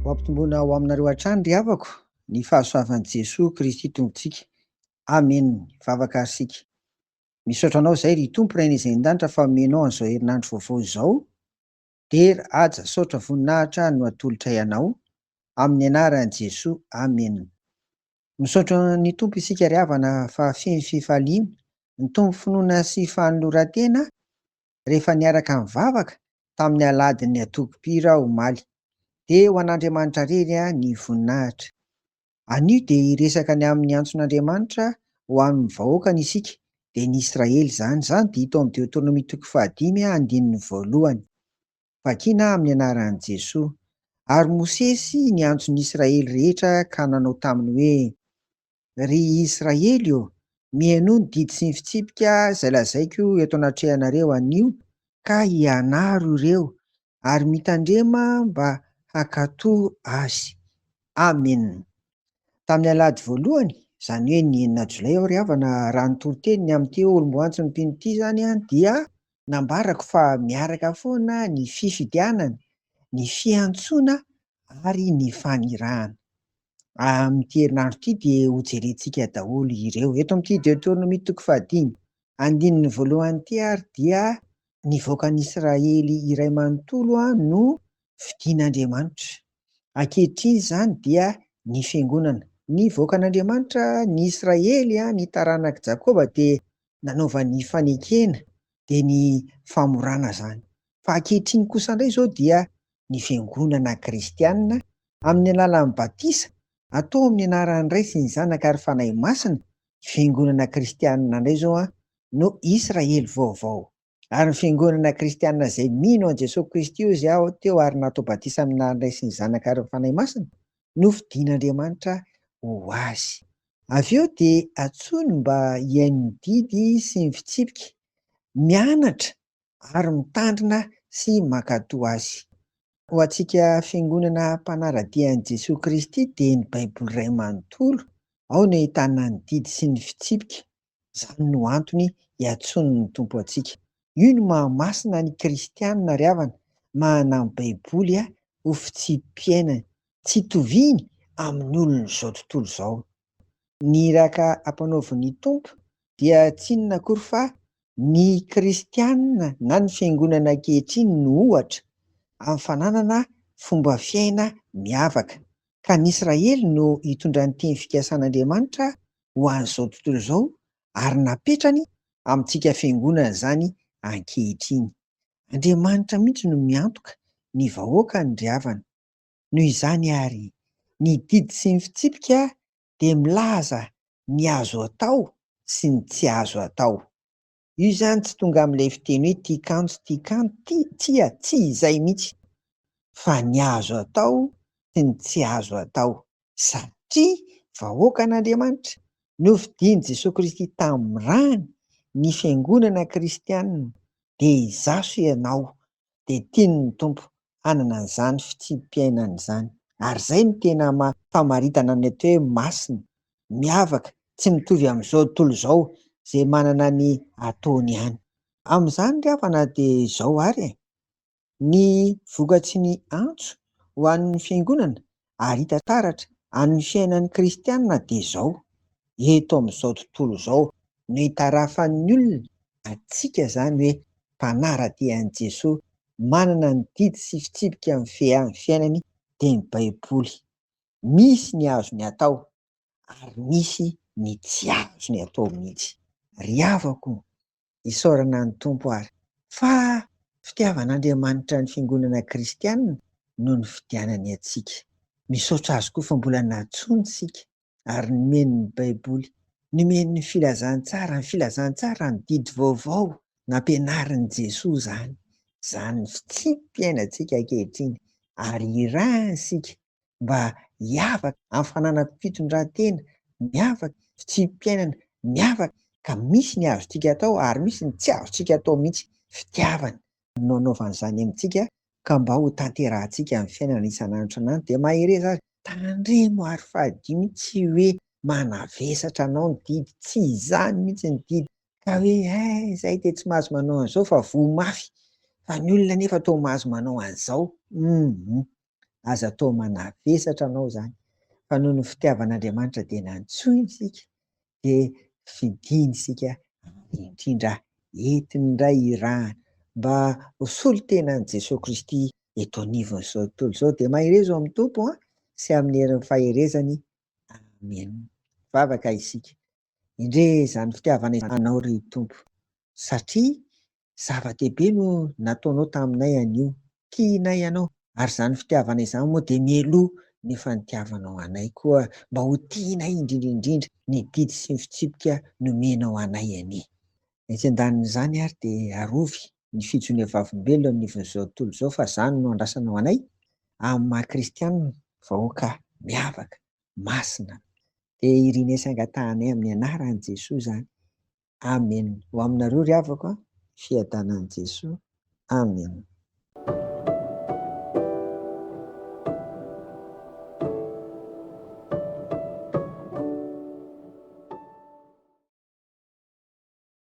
Ho ampitomboina ho aminareo hatrany ry havako ny fahasoavan'i Jesoa Kristy Tompontsika. Amen! Vavaka ary isika. Misaotra Anao izay ry Tompo Rainay izay any an-danitra fa omenao an'izao herinandro vaovao izao. Der, haja, saotra voninahitra no atolotray Anao. Amin'ny anaran'i Jesoa. Amen! Misaotra ny Tompo isika ry havana fa feno fifaliana, nitombo finoana sy fanoloran-tena rehefa niaraka nivavaka tamin'ny aladin'ny atokopira aho omaly. Dia ho an'Andriamanitra rery ny voninahitra. Anio dia hiresaka ny amin'ny antson'Andriamanitra ho amin'ny vahoakany isika, dia ny Israely izany. Izany dia hita ao amin'ny Deoteronomia toko fahadimy andininy voalohany. Vakina amin'ny anaran'i Jesoa. Ary Mosesy niantso ny Israely rehetra ka nanao taminy hoe, Ry Israely ô, mihainoa ny didy sy ny fitsipika izay lazaiko eto anatrehanareo anio, ka ianaro ireo ary mitandrema mba hankatò azy. Amena. Tamin'ny alahady voalohany, izany hoe ny enina jolay aho ry havana, raha nitoriteny ny amin'ny teolom-boantsin'ny mpino ity izany aho, dia. Nambarako fa miaraka foana ny fifidianana, ny fiantsoana ary ny fanirahana. Amin'ity herinandro ity dia hojerentsika daholo ireo. Eto amin'ity Deoteronomia toko fahadimy, andininy voalohany ity ary dia ny vahoakan'Israely iray manontolo no fidin'Andriamanitra. Ankehitriny izany dia ny fiangonana. Ny vahoakan'Andriamanitra, ny Israely, ny taranak'i Jakoba dia nanaovany fanekena dia ny famorana izany. Fa ankehitriny kosa indray izao dia ny fiangonana kristianina amin'ny alalan'ny batisa atao amin'ny anaran'ny Ray sy ny Zanaka ary Fanahy Masina, fiangonana kristianina indray izao no Israely vaovao. ary ny fiangonana kristianina izay mino an'i Jesoa Kristy hoy izy aho teo ary natao batisa amin'ny anaran'Ilay sy ny Zanaka ary ny Fanahy Masina no fidin'Andriamanitra ho azy. Avy eo dia antsoiny mba hihaino ny didy sy ny fitsipika, mianatra ary mitandrina sy mankatò azy. Ho antsika fiangonana mpanara-dia an'i Jesoa Kristy dia ny Baiboly iray manontolo ao no ahitana ny didy sy ny fitsipika Izany no antony iantsoan'ny Tompo antsika. Io no maha masina ny kristiana ry havana, manana ny baiboly ho fitsipi-piainany. Tsy toviny amin'ny olon'izao tontolo izao. Ny iraka ampanaovin'ny Tompo dia tsy inona akory fa ny kristiana na ny fiangonana ankehitriny no ohatra amin'ny fananana fomba fiaina miavaka. Ka ny Israely no hitondra ny teny fikasan'Andriamanitra ho an'izao tontolo izao ary napetrany amintsika fiangonana izany ankehitriny. Andriamanitra mihitsy no miantoka ny vahoakany ndry havana. Noho izany ary, ny didy sy ny fitsipika dia milaza ny azo atao sy ny tsy azo atao. Io izany tsy tonga amin'ilay fiteny hoe tia kanjo, tia kanjo, tia, tsia, tsy izay mihitsy, fa ny azo atao sy ny tsy azo atao, satria vahoakan'Andriamanitra, nofidian'i Jesoa Kristy tamin'ny rany, ny fiangonana kristianina, dia izaho sy ianao dia tiany ny Tompo hanana an'izany fitsipi-piainana izany. Ary izay no tena famaritana ny atao hoe masina, miavaka, tsy mitovy amin'izao tontolo izao, izay manana ny ataony ihany. Amin'izany ry havana dia izao ary e, ny vokatry ny antso ho an'ny Fiangonana ary hita taratra amin'ny fiainan'ny kristiana dia izao, eto amin'izao tontolo izao no itarafan'ny olona antsika izany hoe mpanara-dia an'i Jesoa, manana ny didy sy fitsipika mifehy amin'ny fiainany dia ny Baiboly. Misy ny azony atao ary misy ny tsy azony atao mihitsy. Ry havako, Isaorana an'i Tompo ary fa fitiavan'Andriamanitra ny fiangonana kristianina no nifidianany antsika. Misaotra Azy koa fa mbola nantsoiny isika ary nomeny ny Baiboly, nomeny ny Filazantsara, ny Filazantsara, ny Didy Vaovao nampianarin'i Jesoa izany. Izany ny fitsipy iainantsika ankehitriny ary irahany isika mba hiavaka amin'ny fananam-pitondran-tena miavaka, fitsipi-piainana miavaka ka misy ny azontsika atao ary misy ny tsy azontsika atao mihitsy. Fitiavana no anaovany izany amintsika ka mba ho tanterahantsika amin'ny fiainana isan'andro isan'andro dia mahereza azy. Tandremo ary fadio ny tsy hoe manavesatra anao ny didy, tsy izany mihitsy ny didy ka hoe eh izahay dia tsy mahazo manao an'izao fa voa mafy fa ny olona anefa toa mahazo manao an'izao, hum. Aza atao manavesatra anao izany, fa noho ny fitiavan'Andriamanitra dia nantsoiny isika, dia fidiny isika indrindra entiny indray hirahana mba ho solon-tenan'i Jesoa Kristy eto anivon'izao tontolo izao. Dia mahereza ao amin'ny Tompo an, sy amin'ny herin'ny faherezany. Amen. Vavaka isika. Endrey izany fitiavana izany anao ry Tompo, satria Zava-dehibe no nataonao taminay anio. Tianay ianao, ary izany fitiavana izany moa dia mialoha ny efa nitiavanao anay koa mba ho tianay indrindra indrindra ny didy sy ny fitsipika nomenao anay anie. Etsy an-danin'izany ary dia arovy ny fijonian'ny Vavolombelona eo anivon'izao tontolo izao fa izany no andrasanao anay amin'ny maha kristiana vahoaka miavaka, masina. Dia irinaisy angatahanay amin'ny anaran'i Jesoa izany. Amen ho aminareo ry havako a, fiadanan'i Jesoa. Amen.